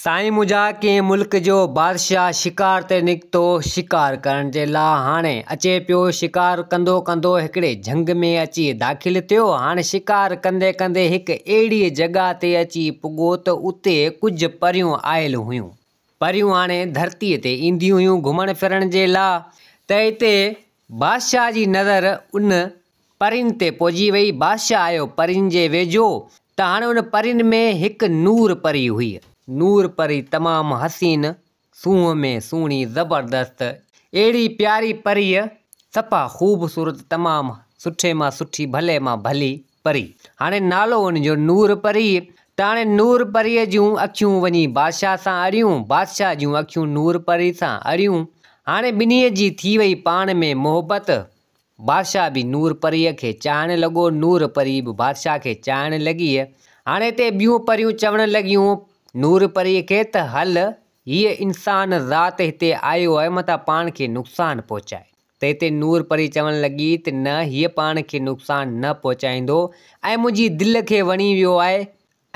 سائين منهنجا ڪنهن ملڪ جو بادشاهه شڪار تي نڪتو شڪار ڪرڻ جي لا هاڻي اچي پيو شڪار ڪندو ڪندو هڪڙي جهنگ ۾ اچي داخل ٿيو هاڻي شڪار ڪندي ڪندي هڪ اهڙي جڳهه تي اچي پڳو ته اتي ڪجهه پريون آيل هيون پريون هاڻي ڌرتي تي اينديون هيون گهمڻ ڦرڻ جي لا ته هتي بادشاهه جي نظر ان پرين تي پهجي ويئي. بادشاهه آيو پرين جي ويجهو ته هاڻي ان پرين ۾ هڪ نور پري هئي. نور پري تمام حسين، سونهن ۾ سهڻي، زبردست، اهڙي پياري پريء، صفا خوبصورت، تمام سٺي مان سٺي، ڀلي مان ڀلي پري. هاڻي نالو ان جو نور پري ته هاڻي نور پريء جون اکيون وڃي بادشاهه سان اڙيون، بادشاهه جون اکيون نور پري سان اڙيون. هاڻي ٻنهيء جي ٿي ويئي پاڻ ۾ محبت. بادشاهه به نور پريء کي چاهڻ لڳو، نور پري به بادشاهه کي چاهڻ لڳيء. هاڻي تي ٻيون پريون چوڻ لڳيون نور پريء کي ته هل، هيء انسان ذات هتي آيو آهي متان پاڻ کي نقصان پهچائي. تنهن تي نور پري چوڻ لڳي ته نه، هيء پاڻ کي نقصان نه پهچائيندو ۽ منهنجي دل کي وڻي ويو آهي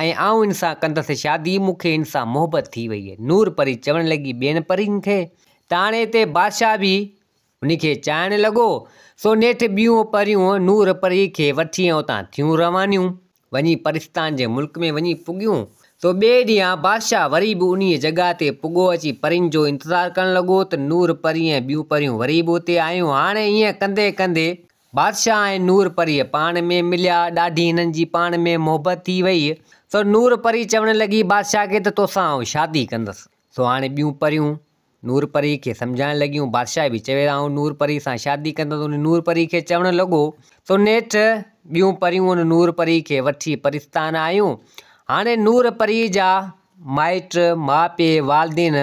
۽ آئون هن سان ڪندس شادي، مون کي هن سان محبت ٿي ويئي. نور پري چوڻ لڳي ٻين پرين کي ته هاڻي تي بادشاهه به ان کي چائڻ لڳو، سو نيٺ ٻيون پريون نور پريء کي وٺي ۽ اتان ٿيون روانيون، وڃي پرستان جي ملڪ ۾ وڃي پڳيون، سو ٻئي ڏينهن بادشاهه وري به انهيء جڳهه تي پڳو اچي پرين جو انتظار ڪرڻ لڳو ته نور پري ۽ ٻيون پريون وري به اتي آيون، هاڻي ائين ڪندي ڪندي بادشاهه ۽ نور پريء پاڻ ۾ مليا، ڏاڍي هنن جي پاڻ ۾ محبت ٿي وئي، سو نور پري چوڻ لڳي بادشاهه کي ته توسان آئون شادي ڪندس، سو هاڻي ٻيون پريون نور پريء کي سمجهائڻ لڳيون. بادشاهه به چوي آئون نور پريء سان شادي ڪندس. ان نور پريء کي چوڻ لڳو تو نيٺ ٻيون پريون ان نور پريء کي وٺي پرستان آيون. هاڻي نور پريء جا مائٽ، ماء پيء، والدين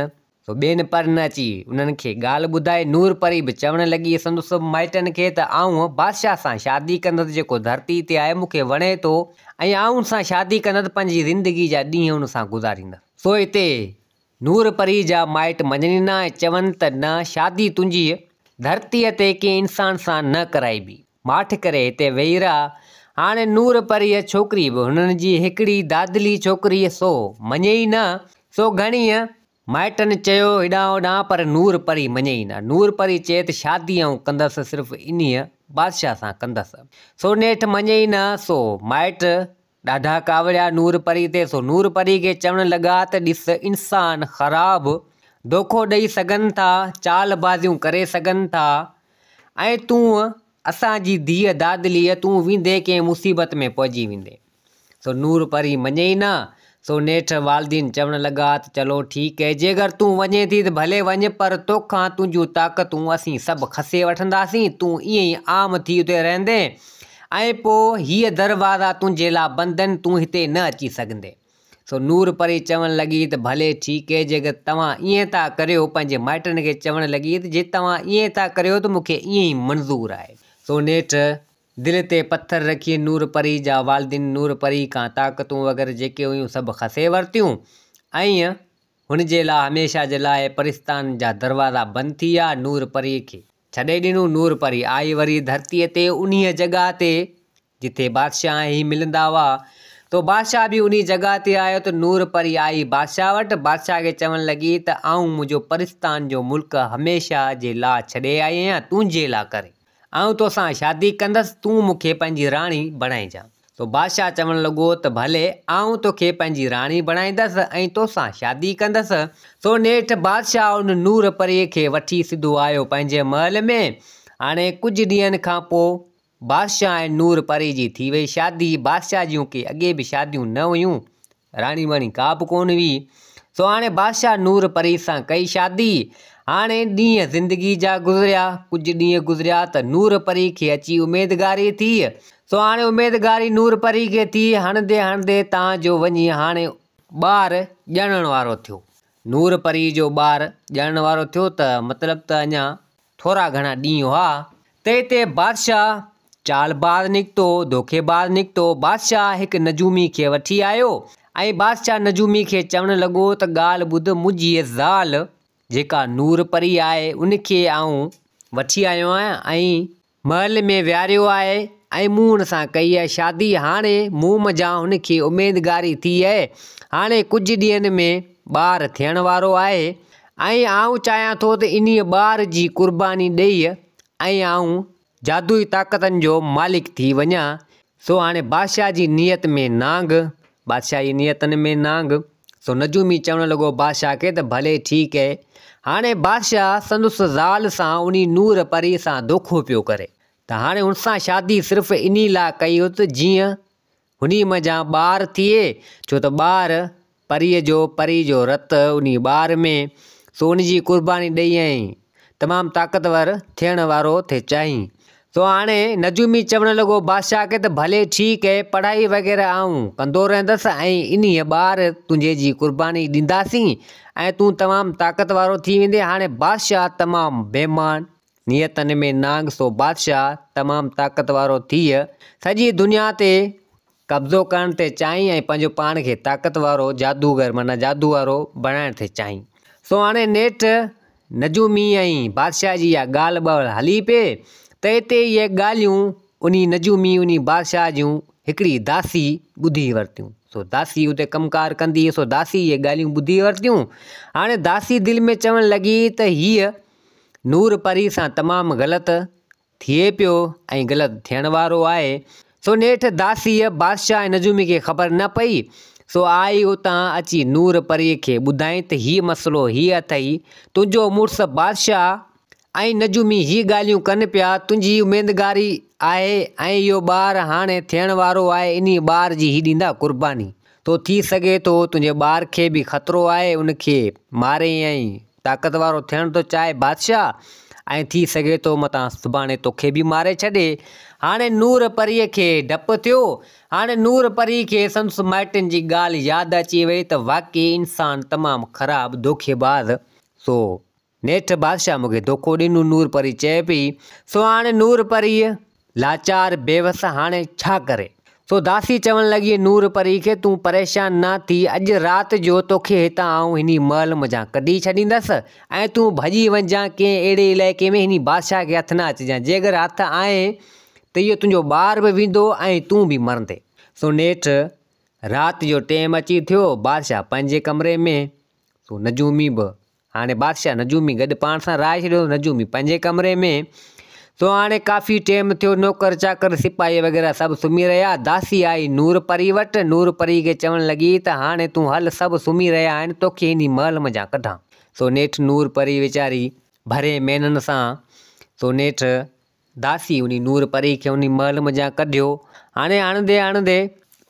سو ٻين پر نه اچي انهن کي ڳالهه ٻڌائي. نور پري به چوڻ لڳي سندس مائٽن کي ته آئون بادشاهه سان شادي ڪندس جيڪو ڌرتي تي آهي مون کي وڻي ٿو ۽ آئون ان سان شادي ڪندس پنهنجي زندگي جا ڏينهن ان سان گذاريندس. سو هتي نور پريء جا مائٽ مڃنين ها ۽ چون ته نه شادي تنهنجيء ڌرتيء تي ڪنهن انسان سان نه ڪرائبي. ماٺ ڪري هتي ويهي رهه. هاڻي نور پريء ڇوڪري به هنن جي هڪڙي دادلي ڇوڪريء سو مڃي ئي نه. سو گهڻيء مائٽن چيو هيڏانهن هوڏانهن پر نور پري مڃي ئي نه. نور پري چئي ته شادي آئون ڪندس صرف انهيء بادشاهه سان ڪندس. سو نيٺ مڃي ئي نه. سو مائٽ ڏاڍا ڪاوڙيا نور پري تي سو نور پري کي چوڻ لڳا ته ڏس انسان خراب دوکو ڏئي سگهن ٿا چال بازيون ڪري سگهن ٿا ۽ تون اسان جي ڌيء دادليء تون ويندي ڪنهن مصيبت ۾ پئجي ويندي سو نور پري مڃي ئي نه سو نيٺ والدين چوڻ لڳا ته چلو ٺيڪ هي جيڪر تون وڃين ٿي ته ڀلي وڃ پر توکان تنهنجون طاقتون اسين سڀ کسي وٺنداسين تون ائين ئي عام ٿي اتي رهندين ۽ پوء هيء دروازا تنهنجي لاء بند آهن، تون هتي نه اچي سگهندين. سو نور پري چوڻ لڳي ته ڀلي ٺيڪ اهي جيڪڏهن توهان ائين ٿا ڪريو، پنهنجي مائٽن کي چوڻ لڳي ته جي توهان ائين ٿا ڪريو ته مون کي ائين ئي منظور آهي. سو نيٺ دل تي پٿر رکي نور پري جا والدين نور پري کان طاقتون وغيره جيڪي هيون سڀ کسي ورتيون ۽ هن جي لاء هميشه جي لاء پرستان جا دروازا بند ٿي ويا. نور پري کي. ڇڏي ڏنو نور پري آئي وري ڌرتيء تي انهيء جڳهه تي جتي بادشاهه ۽ هي ملندا هئا تو بادشاهه به انهيء جڳهه تي آيو ته نور پري آئي بادشاهه وٽ بادشاهه کي چوڻ لڳي ته آئون منهنجو پرستان جو ملڪ هميشه جي لاء ڇڏي آئي آهيان تنهنجي لاء ڪري آئون توسان شادي ڪندس تون مون کي پنهنجي راڻي بڻائجان سو بادشاهه چوڻ لڳو ته ڀلي آئون توکي پنهنجي راڻي بڻائيندس ۽ توسان شادي ڪندس. سو نيٺ بادشاهه ان نور پريء کي وٺي سڌو آيو پنهنجي محل ۾. هاڻي ڪجهه ڏينهن کان پوء بادشاهه ۽ نور پريء جي ٿي وئي شادي. بادشاهه جون ڪي اڳي به شاديون نه هيون، راڻي واڻي ڪا به ڪونه هئي. سو هاڻي بادشاهه نور پريء سان ڪئي شادي. هاڻي ڏينهن زندگيء جا گذريا. ڪجهه ڏينهن گذريا ته نور پريء کي اچي اميدگاري ٿي. سو هاڻي اميدگاري نور پريء کي ٿي، هڻندي هڻندي تان جو وڃي هاڻي ٻار ڄڻڻ وارو ٿيو. نور پريء جو ٻار ڄڻڻ وارو ٿيو ته مطلب ته اڃا ٿورا گهڻا ڏينهن هئا، تي تي بادشاهه چالباز نڪتو، ڌوڪيباز نڪتو، بادشاهه هڪ نجومي کي وٺي آيو ۽ بادشاهه نجومي کي چوڻ لڳو ته ڳالهه ٻڌ منهنجيء زال جيڪا نور پري آهي ان کي آئون وٺي آيو آهيان ۽ محل ۾ ويهاريو آهي ۽ مون هن سان ڪئي آهي شادي هاڻي مون منجهان هن کي اميدگاري ٿي اهي هاڻي ڪجهه ڏينهن ۾ ٻار ٿيڻ وارو آهي ۽ آئون چاهيان ٿو ته انهيء ٻار جي قرباني ڏيئي ۽ آئون جادوئي طاقتن جو مالڪ ٿي وڃان. سو هاڻي بادشاهه جي نيت ۾ نانگ. بادشاهه جي نيتن ۾ نانگ. سو نجومي چوڻ لڳو بادشاهه کي ته ڀلي ٺيڪ اهي. هاڻي بادشاهه سندس زال سان انهي نور پريء سان دوکو پيو ڪري ته هاڻي ان سان شادي صرف انهي لاء ڪئي اٿ جيئن هني منجهان ٻار ٿئي، ڇو ته ٻار پريء جو، پري جو رت انهي ٻار ۾، سو ان جي قرباني ڏئي ۽ تمام طاقتور ٿيڻ وارو ٿئي چاهين. سو هاڻي نجومي چوڻ لڳو، بادشاهه کي ته ڀلي ٺيڪ اهي، پڙهائي وغيره آئون ڪندو رهندس ۽ انهي ٻار تنهنجي جي قرباني ڏينداسين ۽ تون تمام طاقت وارو ٿي ويندين. هاڻي بادشاهه تمام بيمان. نيتن ۾ نانگ سو بادشاهه تمام طاقت وارو ٿيء سڄي دنيا تي قبضو ڪرڻ ٿي چاهين ۽ پنهنجو پاڻ کي طاقت وارو جادوگر معنيٰ جادو وارو بڻائڻ ٿي چاهين. سو هاڻي نيٺ نجومي ۽ بادشاهه جي اها ڳالهه ٻهل هلي پئي ته اتي اهي ڳالهيون انهي نجومي انهي بادشاهه جون هڪڙي داسي ٻڌي ورتيون سو داسي اتي ڪم ڪار ڪندي هئي سو داسي اهي ڳالهيون ٻڌي ورتيون هاڻي داسي دل ۾ چوڻ لڳي ته هيء نور پري سان تمام غلط ٿئي پيو ۽ غلط ٿيڻ وارو آهي، سو نيٺ داسيء بادشاهه نجومي کي خبر نه پئي، سو آئي اتان اچي نور پريء کي ٻڌائين ته هيء مسئلو هيء اٿئي، تنهنجو مڙس بادشاهه ۽ نجومي هي ڳالهيون ڪن پيا، تنهنجي اميدگاري آهي ۽ اهو ٻار هاڻي ٿيڻ وارو آهي، انهيء ٻار جي هي ڏيندا قرباني. تو ٿي سگهي ٿو تنهنجي ٻار کي به خطرو آهي ان کي ماري ۽ طاقت وارو ٿيڻ ٿو چاهي بادشاهه ۽ ٿي سگهي ٿو متان سڀاڻي توکي به ماري ڇڏي هاڻي نور پريء کي ڊپ ٿيو هاڻي نور پريء کي سندس مائٽن جي ڳالهه ياد اچي وئي ته واقعي انسان تمام خراب دوکيباز سو نيٺ بادشاهه مونکي دوکو ڏنو نور پري چئي پئي سو هاڻي نور پريء لاچار بيوس هاڻي ڇا ڪري سو داسي چوڻ لڳي نور پري کي تون پريشان نه ٿي اڄ رات جو توکي هتان آئون هني محل منجهان ڪڍي ڇڏيندس ۽ تون ڀڄي وڃجان ڪنهن اهڙي علائقي ۾ هني بادشاهه کي هٿ نه اچجان جيڪر هٿ آئين ته اهو تنهنجو ٻار به ويندو ۽ تون به مرندي سو نيٺ رات جو ٽيم اچي ٿيو بادشاهه پنهنجي ڪمري ۾ سو نجومي به هاڻي بادشاهه نجومي گڏ پاڻ سان رهائي ڇڏيو هو نجومي پنهنجي ڪمري ۾ سو هاڻي ڪافي ٽيم ٿيو نوڪر چاڪر سپاهي وغيره سڀ سمهي رهيا داسي آئي نور پري وٽ نور پري کي چوڻ لڳي ته هاڻي تون هل سڀ سمهي رهيا آهن توکي هني محل منجهان ڪڍان سو نيٺ نور پري ويچاري ڀرين مينهن سان سو نيٺ داسي انهي نور پري کي انهي محل منجهان ڪڍيو. هاڻي آڻندي آڻندي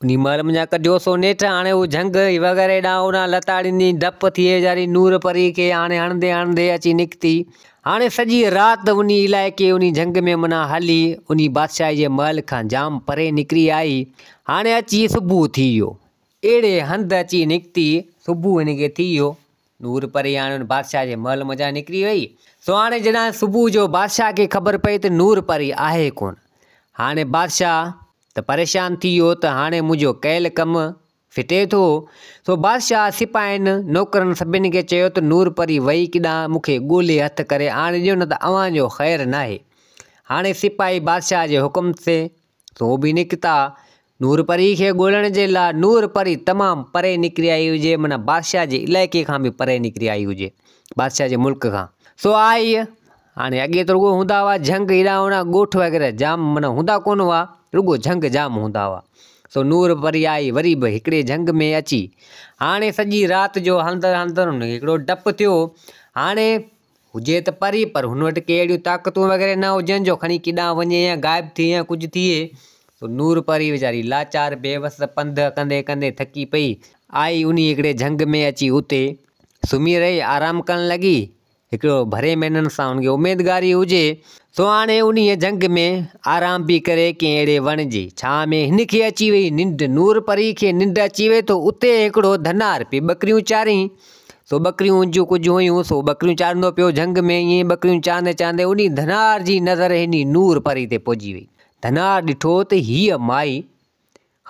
انهي محل منجهان ڪڍيو، سو نيٺ هاڻي هو جهنگ وغيره ڏانهن اڏان لتاڙيندي ڊپ ٿئي ويچاري نور پري کي هاڻي هڻندي هڻندي اچي نڪتي. هاڻي سڄي رات انهي علائقي انهي جهنگ ۾ منا هلي، انهي بادشاهي جي محل کان جام پري نڪري آئي. هاڻي اچي صبح ٿي ويو. اهڙي هنڌ اچي نڪتي، صبح هن کي ٿي ويو. نور پري هاڻي ان بادشاهه جي محل منجهان نڪري وئي، سو هاڻي جڏهن صبح جو بادشاهه کي خبر پئي ته نور پري آهي ڪونه، هاڻي بادشاهه ته پريشان ٿي ويو ته هاڻي منهنجو ڪيل ڪم ڦٽي ٿو، سو بادشاهه سپاهين، نوڪرن سڀني کي چيو ته نور پري وئي ڪيڏانهن مون کي ڳولي هٿ ڪري آڻي ڏيو نه ته اوهان جو خير ناهي، هاڻي سپاهي بادشاهه جي حڪم تي سو به نڪتا. نور پريء کي ڳولڻ جي لاء نور پري تمام پري نڪري آئي هجي، معنيٰ بادشاهه جي علائقي کان به پري نڪري آئي هجي، بادشاهه جي ملڪ کان. سو آئي. هاڻي اڳي ته رڳو هوندا هئا جهنگ هيڏانهن هوڏانهن ڳوٺ وغيره جام معنيٰ هوندا ڪونه هئا، رڳو جهنگ جام هوندا هئا. سو نور پري آئي وري به هڪڙي جهنگ ۾ اچي هاڻي سڄي رات جو هلندڙ هلندڙ هن کي هڪڙو ڊپ ٿيو. هاڻي هجي ته پري پر هن وٽ ڪي اهڙيون طاقتون وغيره نه هجن جو کڻي ڪيڏانهن وڃي يا غائب ٿئي يا ڪجهه ٿئي سو نور پري ويچاري لاچار بيوس پنڌ ڪندي ڪندي ٿڪي پئي آئي انهي هڪڙي جهنگ ۾ اچي اتي سمهي رهي آرام ڪرڻ لڳي هڪڙو ڀري مينن سان هن کي اميدگاري هجي سو هاڻي انهي جهنگ ۾ آرام پئي ڪري ڪنهن اهڙي وڻ جي ڇانء ۾ هن کي اچي وئي ننڊ نور پري کي ننڊ اچي وئي ته اتي هڪڙو ڌنار پئي ٻڪريون چارين سو ٻڪريون جون ڪجهه هيون سو ٻڪريون چارندو پيو جهنگ ۾ ائين ئي ٻڪريون چارندي چارندي انهي ڌنار جي نظر انهي نور پري تي پئجي وئي ڌنار ڏٺو ته هيء مائي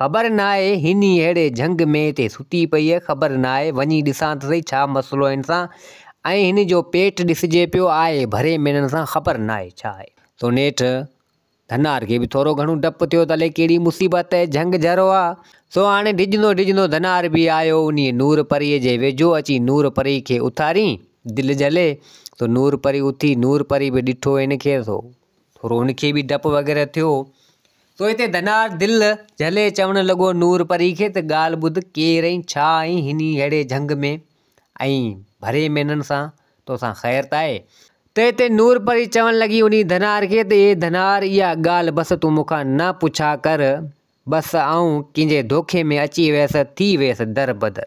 خبر ناهي هني ههڙي جهنگ ۾ هتي ستي پئي خبر ناهي وڃي ڏسان ته سهي ڇا مسئلو هن سان ۽ هن جو پيٽ ڏسجي پيو آهي ڀري مينھن سان خبر ناهي ڇا آهي سو نيٺ ڌنار کي به ٿورو گهڻو ڊپ ٿيو ته الي ڪهڙي مصيبت ۽ جهنگ جهرو آ، سو هاڻي ڊڄندو ڊڄندو ڌنار به آيو انهيء نور پريء جي ويجهو اچي نور پريء کي اٿارين دل جهلي سو نور پري اٿي نور پري به ڏٺو هن کي سو ٿورو هن کي به ڊپ وغيره ٿيو سو هتي ڌنار دل جهلي چوڻ لڳو نور پري کي ته ڳالهه ٻڌ ڪير ۽ ڇا آهين هنيء ههڙي جهنگ ۾ ۽ ڀري مينھن سان، تو سان خير ته آھي؟ تنھن تي نور پري چوڻ لڳي انھي ڌنار کي ته، اي ڌنار! اھا ڳالھه بس تون مون کان نه پڇا ڪر، بس آئون ڪنھن جي ڌوڪي ۾ اچي ويس، ٿي ويس در بدر.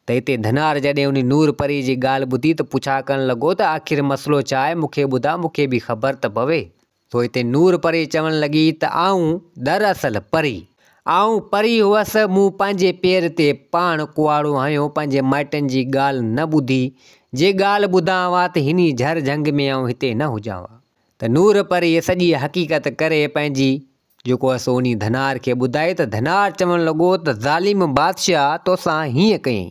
تنھن تي ڌنار جڏھن انھي نور پري جي ڳالھه ٻڌي ته پڇا ڪرڻ لڳو ته، آخر مسئلو ڇا آھي؟ مون کي ٻڌاء، مون کي به خبر ته پوي. پوء اتي نور پري چوڻ لڳي ته آئون دراصل پري آئون پري هئس، مون پنهنجي پير تي پاڻ ڪهاڙو هنيو، پنهنجي مائٽن جي ڳالهه نه ٻڌي، جي ڳالهه ٻڌان ها ته هني جهر جهنگ ۾ آئون هتي نه هجان ها ته نور پريء سڄي حقيقت ڪري پنهنجي جيڪو هئس انهي ڌنار کي ٻڌائي ته ڌنار چوڻ لڳو ته ظالم بادشاهه توسان هيئن ڪيئي؟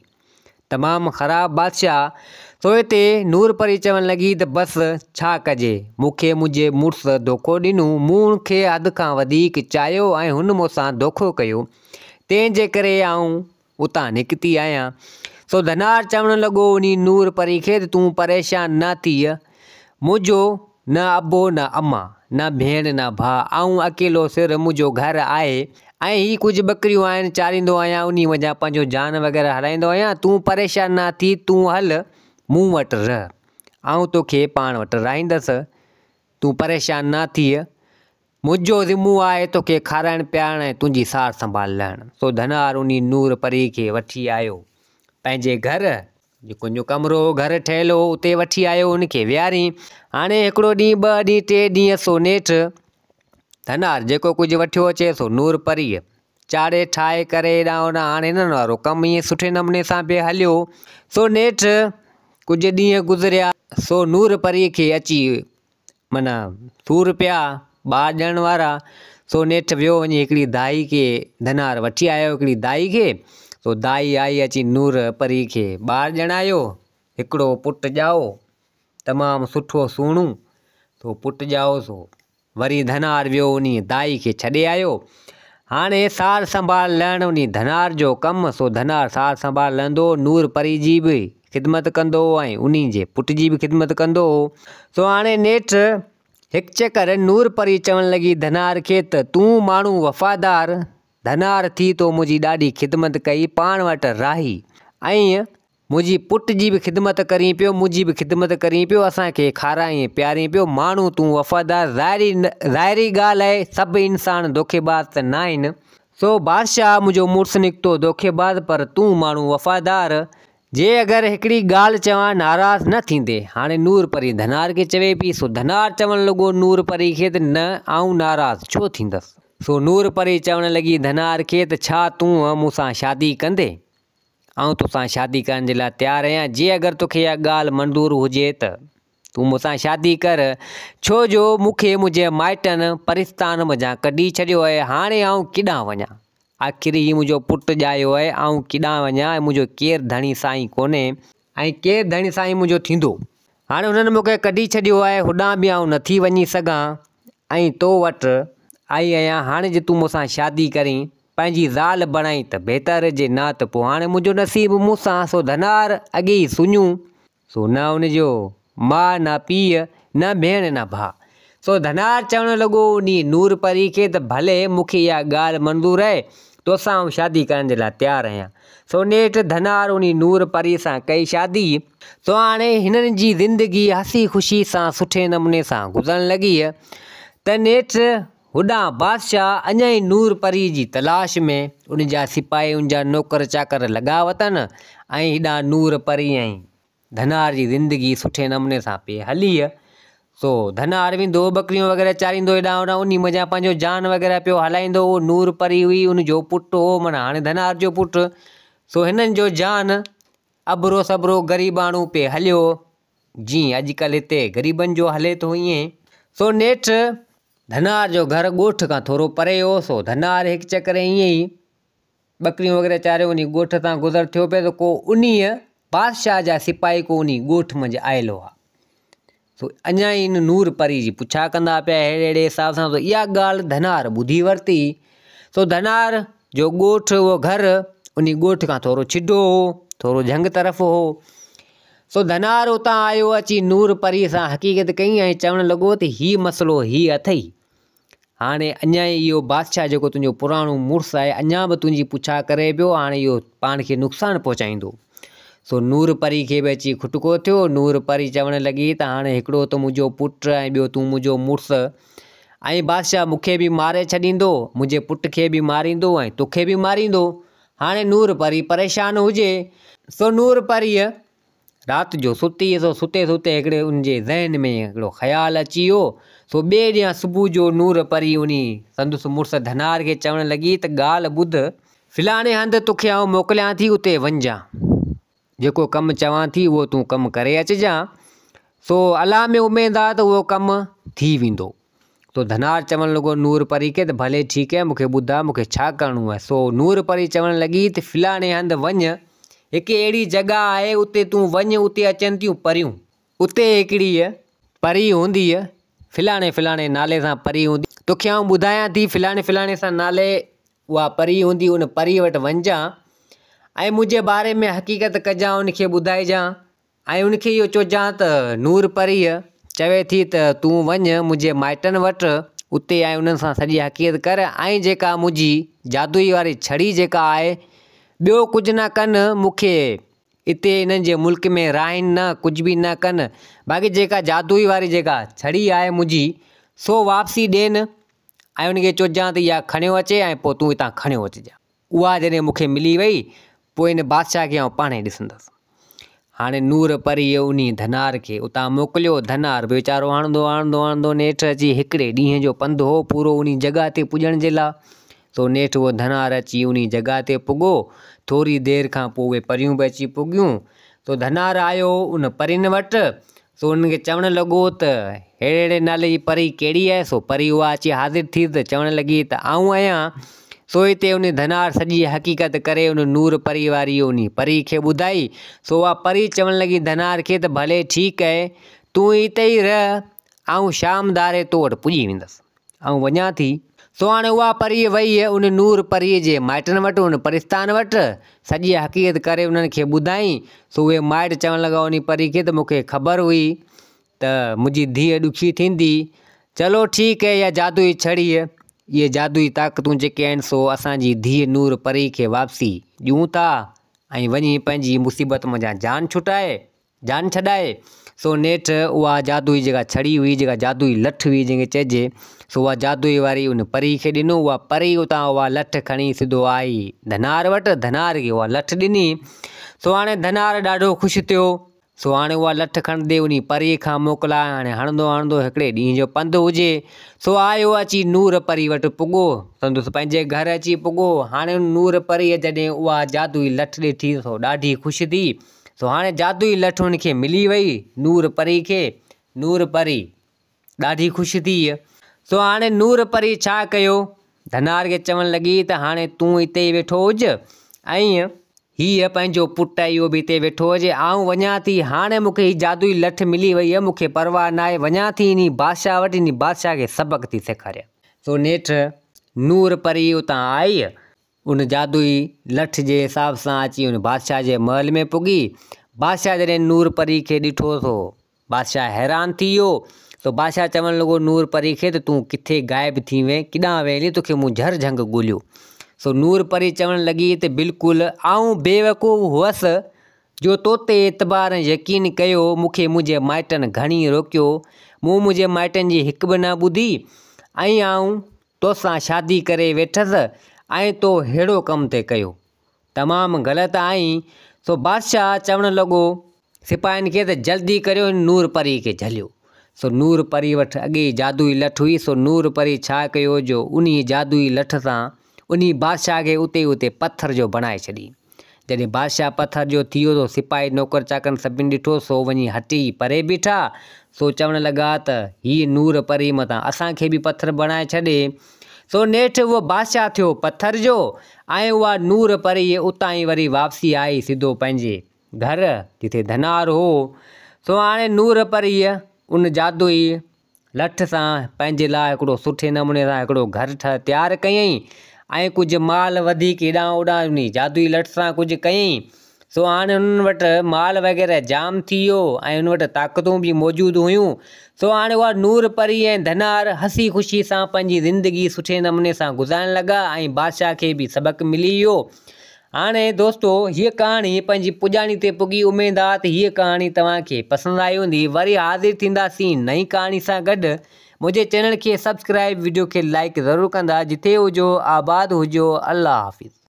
تمام خراب بادشاهه سوء تي نورپري چوڻ لڳي ته بس ڇا ڪجي مون کي منهنجي مڙس ڌوڪو ڏنو مون هن کي حد کان وڌيڪ چاهيو ۽ هن مون سان ڌوڪو ڪيو تنهن جي ڪري آئون اتان نڪتي آهيان. سو ڌنار چوڻ لڳو انهي نور پري کي ته تون پريشان نه ٿيء. منهنجو نه ابو نه اما، نه ڀيڻ نه ڀاء، آئون اڪيلو سر، منهنجو گهر آهي ۽ هي ڪجهه ٻڪريون آهن، چاريندو آهيان، انهي منجهان پنهنجو جان وغيره هلائيندو آهيان، تون پريشان نه ٿي، تون هل مون وٽ رهه، آئون توکي پاڻ وٽ رهائيندس، تون پريشان نه ٿيء. منهنجو ذمو آهي توکي کارائڻ پيارڻ ۽ تنهنجي سار سنڀال لهڻ. سو ڌنار انهي نور پريء کي وٺي آيو پنهنجي گهر، جيڪو انهي جو ڪمرو هو، گهر ٺهيل هو، اتي وٺي آيو ان کي ويهارين. هاڻي هڪڙو ڏينهن، ٻه ڏينهن، ٽي ڏينهن سو نيٺ ڌنار جيڪو ڪجهه وٺيو اچي سو نور پريء چاڙهي ٺاهي ڪري هيڏانهن هوڏانهن هاڻي هنن وارو ڪم ائين سٺي نموني سان به هليو سو نيٺ ڪجهه ڏينهن گذريا سو نور پريء کي اچي معنيٰ، سور پيا، ٻار ڄڻڻ وارا، سو نيٺ ويو وڃي هڪڙي دائي کي ڌنار وٺي آيو هڪڙي دائي کي، سو دائي آئي اچي نور پري کي ٻار ڄڻايو، هڪڙو پٽ ڄائو، تمام سٺو سهڻو، سو پٽ ڄائو سو وري ڌنار ويو انهي دائي کي ڇڏي آيو، هاڻي سار سنڀال لهڻ انهي ڌنار جو ڪم، سو ڌنار سار سنڀال لهندو نور پري جي به خدمت ڪندو هو ۽ انهي جي پٽ جي به خدمت ڪندو هو. سو هاڻي نيٺ هڪ چڪر نور پري چوڻ لڳي ڌنار کي ته، تون ماڻهو وفادار ڌنار ٿي تو منهنجي ڏاڍي خدمت ڪئي، پاڻ وٽ راهي ۽ منهنجي پٽ جي به خدمت ڪرين پيو، منهنجي به خدمت ڪرين پيو، اسان کي کارائين پيارين پيو، ماڻهو تون وفادار، ظاهري ظاهري ڳالهه آهي سڀ انسان دوکيباز ته ناهن، سو بادشاهه منهنجو مڙس نڪتو دوکيباز پر تون ماڻهو وفادار جي اگر هڪڙي ڳالهه چوان ناراض نه ٿيندي هاڻي نور پري ڌنار کي چوي پئي سو ڌنار چوڻ لڳو نور پري کي ته نه آئون ناراض ڇو ٿيندس سو نور پري چوڻ لڳي ڌنار کي ته ڇا تون مون سان شادي ڪندي آئون تو سان شادي ڪرڻ جي لاء تيار اهيان جي اگر توکي اها ڳالهه منظور هجي ته. تون مون سان شادي ڪر، ڇو جو مون کي منهنجي مائٽن پرستان منجهان ڪڍي ڇڏيو آهي، هاڻي آئون ڪيڏانهن وڃان؟ آخر هي منهنجو پٽ ڄايو آهي، آئون ڪيڏانهن وڃان ۽ منهنجو ڪير ڌڻي سائين ڪونهي، ۽ ڪير ڌڻي سائين منهنجو ٿيندو، هاڻي هنن مون کي ڪڍي ڇڏيو آهي، هوڏانهن به آئون نٿي وڃي سگهان، ۽ تو وٽ آئي آهيان، هاڻي جي تون مون سان شادي ڪرين، پنهنجي زال بڻائين ته بهتر، جي نه ته پوء هاڻي منهنجو نصيب مون سان سو ڌنار اڳي ئي سڃون. سو نه ان جو ماء نه پيء، نه ڀيڻ نه ڀاء. سو ڌنار چوڻ لڳو انهيء نور پريء کي ته ڀلي مون کي اها ڳالهه منظور آهي، توسان آئون شادي ڪرڻ جي لاء تيار آهيان. سو نيٺ ڌنار انهيء نور پريء سان ڪئي شادي. سو هاڻي هنن جي زندگي هسي خوشيء سان سٺي نموني سان گذرڻ لڳي ته نيٺ هوڏانهن بادشاهه اڃائي نور پريء جي تلاش ۾ ان جا سپاهي ان جا نوڪر چاڪر لڳا وتن ۽ هيڏانهن نور پري ۽ ڌنار جي زندگي سٺي نموني سان پئي هليء سو ڌنار ويندو هو ٻڪريون وغيره چاريندو هيڏانهن هوڏانهن انهي منجهان پنهنجو جان وغيره پيو هلائيندو هو نور پري هئي ان جو پٽ هو معنيٰ هاڻي ڌنار جو پٽ سو هنن جو جان ابرو سبرو غريباڻو پئي هليو جيئن اڄڪلهه هتي غريبن جو هلي ٿو ايئن. سو نيٺ ڌنار جو گهر ڳوٺ کان ٿورو پري هو سو ڌنار هڪ چڪر ايئن ئي ٻڪريون وغيره چاري انهي ڳوٺ تان گذر ٿيو پئي ته ڪو انهيء بادشاهه جا سپاهي ڪو انهي ڳوٺ منجهه آيل هئا سو اڃا ئي ان نور پري جي پڇا ڪندا پيا اهڙي اهڙي حساب سان سو اها ڳالهه ڌنار ٻڌي ورتي سو ڌنار جو ڳوٺ اهو گهر انهي ڳوٺ کان ٿورو ڇڊو هو ٿورو جهنگ طرف هو سو ڌنار اتان آيو اچي نور پريء سان حقيقت ڪئي ۽ چوڻ لڳو ته هي مسئلو هي اٿئي. هاڻي اڃا ئي اهو بادشاهه جيڪو تنهنجو پراڻو مڙس آهي اڃا به تنهنجي پڇا ڪري پيو هاڻي اهو پاڻ کي نقصان پهچائيندو. سو نور پريء کي به اچي کٽڪو ٿيو. نور پري چوڻ لڳي ته هاڻي هڪڙو ته منهنجو پٽ ۽ ٻيو تون منهنجو مڙس ۽ بادشاهه مون کي به ماري ڇڏيندو، منهنجي پٽ کي به ماريندو ۽ توکي به ماريندو. هاڻي نور پري پريشان هجي سو نور پريء رات جو ستي سو ستي ستي هڪڙي ان جي ذهن ۾ هڪڙو خيال اچي ويو سو ٻئي ڏينهن صبح جو نور پري انهي سندس مڙس ڌنار کي چوڻ لڳي ته ڳالهه ٻڌ فلاڻي هنڌ توکي آئون موڪليان ٿي اتي وڃجان جيڪو ڪم چوان ٿي اهو تون ڪم ڪري اچجان، سو الله ۾ اميد آ ته اهو ڪم ٿي ويندو. سو ڌنار چوڻ لڳو نور پري کي ته ڀلي ٺيڪ اهي مون کي ٻڌاء مون کي ڇا ڪرڻو اهي. سو نور پري چوڻ لڳي ته فلاڻي هنڌ وڃ، هڪ اهڙي جڳهه آهي اتي تون وڃ اتي اچن ٿيون پريون. اتي هڪڙيء پري هونديء فلاڻي فلاڻي نالي سان پري هوندي، توکي آئون ٻڌايان ٿي فلاڻي فلاڻي سان نالي اها پري هوندي ان پريء وٽ وڃجان ۽ منهنجي باري ۾ حقيقت ڪجان ان کي ٻڌائجان ۽ ان کي اهو چئجان ته نور پريء چوي ٿي ته تون وڃ منهنجي مائٽن وٽ اتي ۽ انهن سان سڄي حقيقت ڪر ۽ جيڪا منهنجي جادوئي واري ڇڙي جيڪا آهي ٻيو ڪجهه نه ڪن مون کي اتي انهن جي ملڪ ۾ راهين نه ڪجهه به نه ڪن باقي جيڪا جادوئي واري جيڪا ڇڙي آهي منهنجي سو واپسي ڏين ۽ ان کي چوجان ته اها کڻيو اچي ۽ پوء تون هتان کڻيو اچجان. اها جڏهن مون کي ملي وئي، پوء ان بادشاهه کي آئون پاڻهي ڏسندس. هاڻي نور پريء انهيء ڌنار کي اتان موڪليو. ڌنار به ويچارو آڻندو آڻندو آڻندو نيٺ اچي هڪڙي ڏينهن جو پنڌ هو پورو انهي جڳهه تي پڄڻ جي لاء، سو نيٺ اهو ڌنار اچي انهي جڳهه تي پڳو. ٿوري دير کان پوء اهي پريون به اچي پڳيون، سو ڌنار آيو ان پرين وٽ، سو انهن کي چوڻ لڳو ته اهڙي اهڙي نالي جي پري ڪهڙي آهي؟ سو پري اها اچي حاضر ٿي ته چوڻ لڳي ته آئون آهيان. سو هتي انهي ڌنار سڄي حقيقت ڪري انهي نور پري واري انهي پري کي ٻڌائي. سو اها پري چوڻ لڳي ڌنار کي ته ڀلي ٺيڪ آهي، تون هتي ئي رهه، آئون شام ڌاري تو وٽ پڄي ويندس. آئون وڃان ٿي. سو هاڻي اها پريء ويئي ان نور پريء جي مائٽن وٽ، ان پرستان وٽ، سڄي حقيقت ڪري انهن کي ٻڌائين. سو اهي مائٽ چوڻ لڳا انهي پريء کي ته مون کي خبر هئي ته منهنجي ڌيء ڏکي ٿيندي. چلو ٺيڪ هي اها جادوئي ڇڙي، اهي جادوئي طاقتون جيڪي آهن سو اسان جي ڌيء نور پريء کي واپسي ڏيون ٿا ۽ وڃي پنهنجي مصيبت منجهان جان ڇٽائي. جان ڇڏائي، سو نيٺ اها جادوئي جيڪا ڇڙي هئي، جيڪا جادوئي لٺ هئي جنهن کي چئجي، سو اها جادوئي واري ان پري کي ڏنو، اها پري اتان اها لٺ کڻي سڌو آئي ڌنار وٽ، ڌنار کي اها لٺ ڏني، سو هاڻي ڌنار ڏاڍو خوش ٿيو، سو هاڻي اها لٺ کڻندي انهي پري کان موڪلائي هاڻي هڻندو هڻندو هڪڙي ڏينهن جو پنڌ هجي، سو آيو اچي نور پري وٽ پڳو، سندس پنهنجي گهر اچي پڳو، هاڻي نور پريء جڏهن اها جادوئي لٺ ڏٺي، سو ڏاڍي خوش ٿي، سو هاڻي جادوئي لٺ هن کي ملي وئي نور پري کي نور پري ڏاڍي خوش ٿي سو هاڻي نور پري ڇا ڪيو ڌنار کي چوڻ لڳي ته هاڻي تون هتي ويٺو هج ۽ هيء پنهنجو پٽ اهو به هتي ويٺو هجي آئون وڃان ٿي هاڻي مون کي هي جادوئي لٺ ملي وئي مون کي پرواهه نه آهي وڃان ٿي انهي بادشاهه وٽ انهي بادشاهه کي سبق ٿي سيکاريان سو نيٺ نور پري اتان آئي ان جادوئي لٺ جي حساب سان اچي ان بادشاهه جي محل ۾ پڳي. بادشاهه جڏهن نور پري کي ڏٺو ٿو بادشاهه حيران ٿي ويو تو بادشاهه چوڻ لڳو نور پري کي ته تون ڪٿي غائب ٿي وئين ڪيڏانهن وئين هلين توکي مون جهر جهنگ ڳوليو سو نور پري چوڻ لڳي ته بلڪل آئون بيوقوف هئس جو توتي اعتبار ۽ يقين ڪيو مونکي منهنجي مائٽن گهڻي روڪيو مون منهنجي مائٽن جي هڪ به نه ٻڌي ۽ آئون توسان شادي ڪري ويٺس ۽ تو ههڙو ڪم ٿي ڪيو. تمام غلط آهين. سو بادشاهه چوڻ لڳو سپاهين کي ته جلدي ڪريو هن نور پري کي جهليو. سو نور پري وٽ اڳي ئي جادوئي لٺ هئي. سو نور پري ڇا ڪيو جو انهيء جادوئي لٺ سان انهي بادشاهه کي اتي ئي اتي پٿر جو بڻائي ڇڏيائين. جڏهن بادشاهه پٿر جو ٿيو ته سپاهي نوڪر چاڪرن سڀني ڏٺو سو وڃي هٽي پري بيٺا سو چوڻ لڳا ته هيء نور پري متان اسان کي به پٿر بڻائي ڇڏي سو نيٺ اهو بادشاهه ٿيو پٿر جو ۽ اها نور پريء اتان ئي وري واپسي آئي سڌو پنهنجي گهر جتي ڌنار هو سو هاڻي نور پريء ان جادوئي لٺ سان پنهنجي لاء هڪڙو سٺي نموني سان هڪڙو گهر ٺاهي تيار ڪيائين ۽ ڪجهه مال وڌيڪ هيڏانهن هوڏانهن انهي جادوئي لٺ سان ڪجهه ڪيائين سو هاڻي انهن وٽ مال وغيره جام ٿي ويو ۽ انهن وٽ طاقتون به موجود هيون سو هاڻي اها نور پري ۽ ڌنار هسي خوشي سان پنهنجي زندگي سٺي نموني سان گذارڻ لڳا ۽ بادشاهه کي به سبق ملي ويو هاڻي دوستو هيء ڪهاڻي پنهنجي پڄاڻي تي پڳي اميد آ ته هيء ڪهاڻي توهان کي پسند آئي هوندي وري حاضر ٿينداسين نئين ڪهاڻي سان گڏ منهنجي چينل کي سبسڪرائب وڊيو کي لائڪ ضرور ڪندا جٿي هجو آباد هجو الله حافظ.